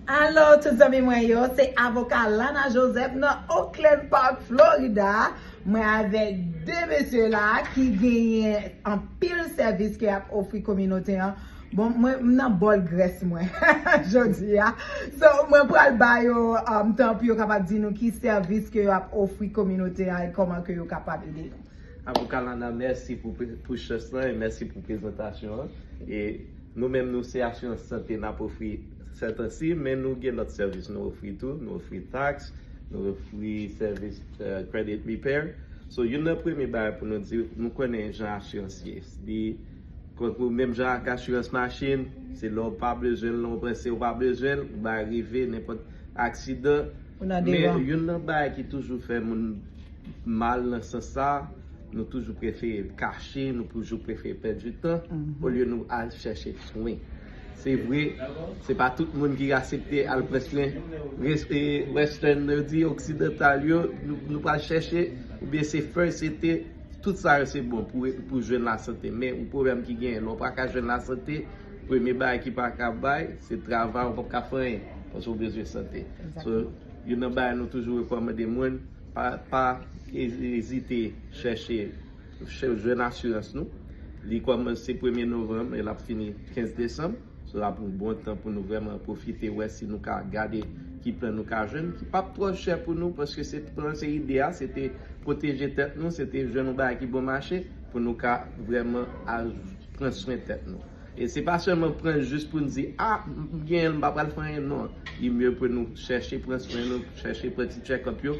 Alo tout zanmi mwen yo, se avoka Lana Joseph nan Oakland Park Florida, mwen avèk 2 mesye la ki genyen anpil sèvis ke yap ofri kominote an, bon mwen m nan bòl grès mwen jodi a, so mwen pral ba yo tan pou yo kapab di nou ki sèvis ke yo ap ofri kominote an e kòman ke yo kapab ede nou. Avoka Lana mèsi pou chans lan e mèsi pou prezantasyon an e nou menm nou se asirans sante nap ofri. Sètansi, men nou gen lòt sèvis nou ofri tou. Nou ofri tax, nou ofri sèvis credit repair. So, youn nan premye bagay pou nou di, nou konnen jan asirans ye. Li konkou menm jan ak asirans machin, se lè w pa bezwen l lan w panse w pa bezwen l, ba rive nenpòt aksidan. Men, youn nan bagay ki toujou fè moun mal nan sans sa, nou toujou prefere kache, nou toujou prefere pèdi tan, olye nou al chèche swen. Se vre, se pa tout moun ki asepte al pran swen western yo di, oksidantal yo, nou pral chèche ou byen se fè sete, tout sa yo se bon pou jwenn la sante men yon pwoblèm ki genyen lè w pa ka jwenn la sante premye bagay ki pa ka bay se travay ou pap ka fè anyen paske ou bezwen sante so youn nan bagay nou toujou rekòmande moun pa ezite chèche Chèf jwenn asirans nou. Li kòmanse premye novanm e l ap fini 15 desanm. Sa w ap yon bon tan pou nou vrèman pwofite wè si nou ka gade ki plan nou ka jwenn ki p ap twò chè pou nou paske se plan se ide a se te pwoteje tèt nou se te jwenn yon bagay ki bon mache pou nou ka vrèman al pran swen tèt nou. E se pa sèlman pran l jis pou n di a m genyen l m pa pral fè anyen non. Li mye pou nou chèche pran swen nou chèche fè ti tchèkòp yo.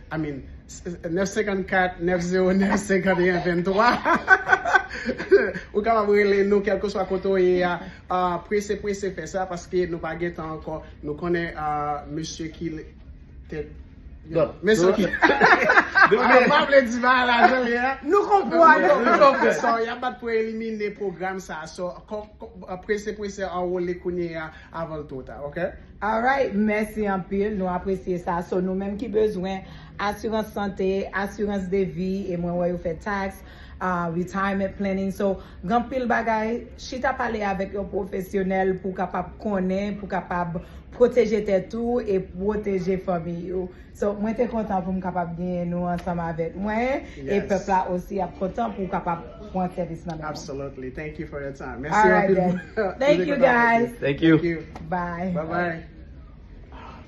I mean 9 54 909 51 23 Ou kapab rele nou kelkeswa kote w ye a Prese prese fè sa paske nou pa gen tan ankò Nou konnen mesye ki Tèt Mesye ki Mwen pa vle di bagay la jan l ye a Nou konprann Nou konprann So y ap bat pou elimine pwogram sa a So prese prese anwole kounye a avan l two ta ok. Alright mèsi anpil nou apresye sa so nou menm ki bezwen asirans sante asirans de vi e mwen wè yo fè tax retirement planning so gen anpil bagay chita pale avèk yon pwofesyonèl pou kapab konnen pou kapab pwoteje tèt ou e pwoteje fanmiy ou. So mwen te kontan pou m kapab genyen nou ansanm avèk mwen e Yes. pèp la osi ap kontan pou w kapab pran sèvis nan men mwen. Absolutely. Thank you for your time. All Mèsi right anpil. then. Mwen Thank te you kontan avèk guys. ou. Thank you. Thank you. Bye. Bye bye.